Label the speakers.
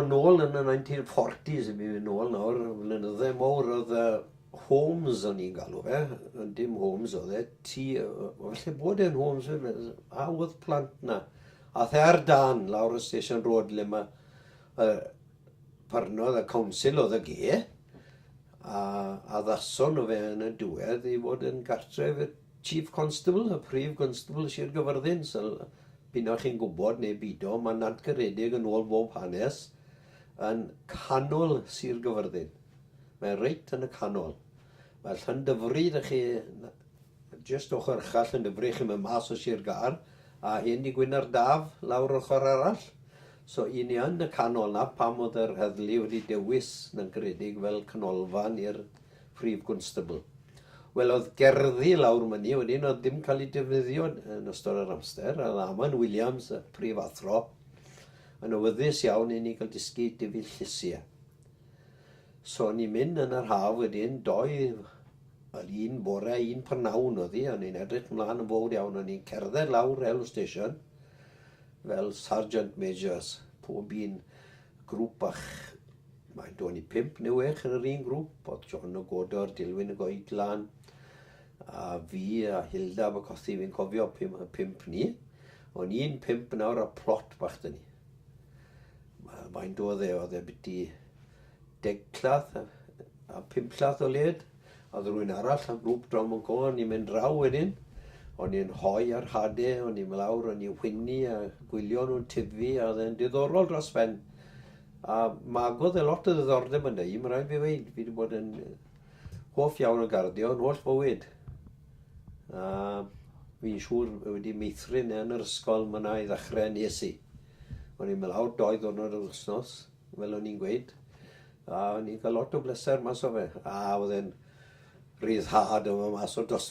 Speaker 1: Yn ôl yn y 1940s i mi, yn ôl nawr, flynyddau mowr oedd y homes o'n i'n galw fe, dim homes oedd e, ti, felly bod e'n homes fe, a oedd plant na. A the ar dan, lawr y Station Road, le mae uh, parnodd y council oedd y ge, a, a ddason nhw fe yn y diwedd i fod yn gartref y Chief Constable, y Prif Gwnstabl Sir Gyfyrddin, syl, p'un a chi'n gwybod neu bido, mae'n nantgaredig yn ôl fob hanes, yn canol Sir Gyfyrddin. Mae reit yn y canol. Mae Llandyfri 'da chi, jyst ochr uchel Llandyfri, chi'n mynd mas o Sir Gâr, a hen dŷ Gwyn'r Daf lawr ochr arall. So, i ni yn y canol, 'na pam oedd yr heddlu wedi dewis Nantgaredig fel canolfan i'r Prif Gwnstabl. Welodd gerddi lawr myni a wedyn oedd dim cael eu defnyddio yn ystod yr amser, a Laman Williams, y Prif Athro, yn awyddus iawn i ni gael dysgu difu llysiau. So ni'n mynd yn yr haf wedyn, doi, wel un bore, un prynawn oedd hi, a ni'n edrych mlaen yn fawr iawn, a ni'n cerdded lawr Railway Station fel Sergeant Majors, pob un Grŵp bach. Mae do ni pump neu wech yn yr un grŵp, oedd John o Godor, Dilwyn o Goedlan, a fi a Hilda fy cothi fi'n cofio pum, pump ni. O'n i'n pump nawr a plot bach dyn ni. Mae'n do dde, oedd e byti deg llath a, a pump llath o led. O'dd rywun arall o grŵp Drom yn Goa yn mynd draw wedyn, o'n i'n rhoi ar hade, o'n i lawr o'n i'n whinnu a gwylio nhw'n tyfu a oedd e'n diddorol dros ben. A magodd e lot o ddiddordeb yn i, mae'n rhaid fi weud, fi wedi bod yn hoff iawn o garddio yn holl fywyd. A fi'n siŵr wedi meithrin e yn yr ysgol, mae yna i ddechrau nes i. O'n i'n mynd lawr doi ddwrnod yr wythnos, fel o'n i'n gweud, a o'n i'n cael lot o bleser mas o fe, a oedd e'n ryddhad o fo' mas o dosbarth.